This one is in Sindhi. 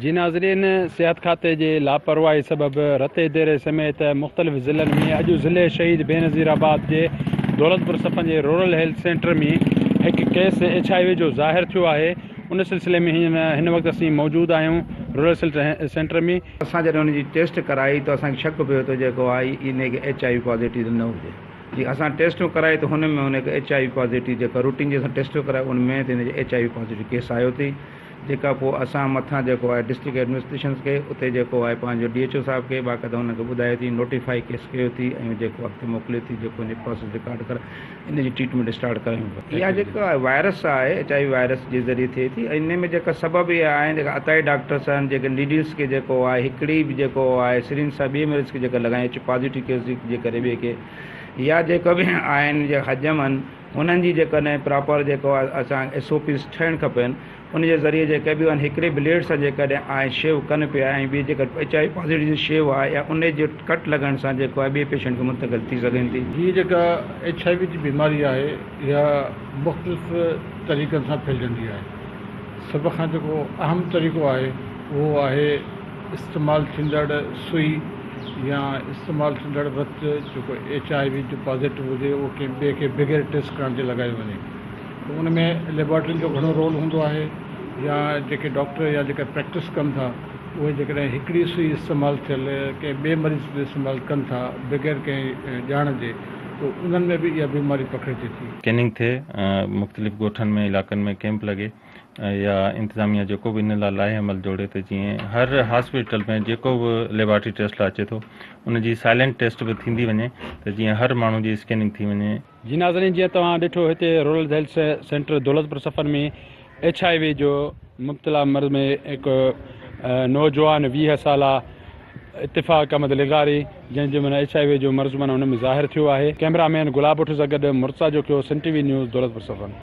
جي ناظرين صحت کاتي جي لاپرواهي سبب رتي ديري سميت مختلف ضلعن ۾ اڄ ضلعي شهيد بينظير آباد جي دولتپور سپن جي رورل هيلٿ سينٽر ۾ هڪ ڪيس ايڇ آء وي جو ظاهر ٿيو آهي ان سلسلي ۾ هين هن وقت اسين موجود آهيون رورل سلٽ سينٽر ۾ اسان جڏهن ان جي ٽيسٽ ڪرائي ته اسان کي شڪ پيو ته جيڪو آء ان هڪ ايڇ آء وي پازيٽو ته نه هجي جي اسان ٽيسٽون ڪرائي ته هن ۾ هن هڪ ايڇ آء وي پازيٽو جيڪا روٽين جي اسان ٽيسٽو ڪرائي ان ۾ ته هن جي H I V positive case آيو ٿي جيڪا پوء اسان مٿان جيڪو آهي ڊسٽرڪٽ ايڊمنسٽريشنز کي اتي جيڪو آهي پنهنجو ڊي ايڇ او صاحب کي باقاعده هن کي ٻڌائي ٿي نوٽيفائي ڪيس ڪيو ٿي ۽ جيڪو اڳتي موڪلي ٿي جيڪو هن جي پروسيس رڪارڊ ڪر ان جي ٽريٽمينٽ اسٽارٽ ڪريون ٿا اها جيڪا وائرس آهي ايڇ آء وي وائرس جي ذريعي ٿئي ٿي ۽ ان ۾ جيڪا سبب اها آهن جيڪا عطائي ڊاڪٽرس آهن جيڪي نيڊلس کي جيڪو آهي هڪڙي به جيڪو آهي سرين سان ٻئي مريض کي جيڪا لڳائين ايڇ پازيٽو ڪيس جي ڪري ٻئي کي يا جيڪا به آهن جيڪا حجم آهن انهن جي جيڪڏهن پراپر جيڪو اسان ايس او پيز ٺهڻ کپين ان جي ذريعي جيڪي به آهن هڪڙي بليڊ سان جيڪڏهن آهن شيو ڪن پيا ۽ ٻي جيڪا ايچ آء وي پازيٽو جي شيو آهي يا ان جي ڪٽ لڳڻ سان جيڪو آهي ٻئي پيشنٽ کي منتقل ٿي سگهين ٿي. هيء جيڪا ايچ آء وي جي بيماري آهي اها مختلف طريقن سان ڦهلجندي آهي سڀ کان جيڪو اهم طريقو آهي اهو آهي استعمال ٿيندڙ سوئي يا استعمال ٿيندڙ وت جيڪو ايڇ آء وي جو پازيٽو هجي اهو ڪنهن ٻئي کي بغير ٽيسٽ ڪرڻ جي لڳايو وڃي ته ان ۾ ليبارٽرين جو گهڻو رول هوندو آهي يا جيڪي ڊاڪٽر يا جيڪي پريڪٽس ڪن ٿا اهي جيڪڏهن هڪڙي سوئي استعمال ٿيل ڪنهن ٻئي مريض تي استعمال ڪن ٿا بغير ڪنهن ڄاڻ جي ته انهن ۾ به اها بيماري پکڙجي ٿي. ڪيننگ ٿئي، مختلف ڳوٺن ۾ علائقن ۾ ڪيمپ لڳي. يا انتظاميه جيڪو به ان لاء لاهي عمل جوڙي ته جيئن هر هاسپيٽل ۾ جيڪو به ليبارٽري ٽيسٽ لاء اچي ٿو ان جي سائلنٽ ٽيسٽ به ٿيندي وڃي ته جيئن هر ماڻهو جي اسڪيننگ ٿي وڃي. جي ناظرين جيئن توهان ڏٺو هتي rural health centre Daulatpur Safan ۾ H I V جو مبتلا مرض ۾ هڪ نوجوان ويهه سالا اتفاق احمد لغاري جنهن جو معنيٰ ايڇ آء وي جو مرض معنيٰ ان ۾ ظاهر ٿيو آهي ڪئميرا مين گلاب اٺ سان گڏ Murtaza Jokhio Sindh T V news Daulatpur Safan.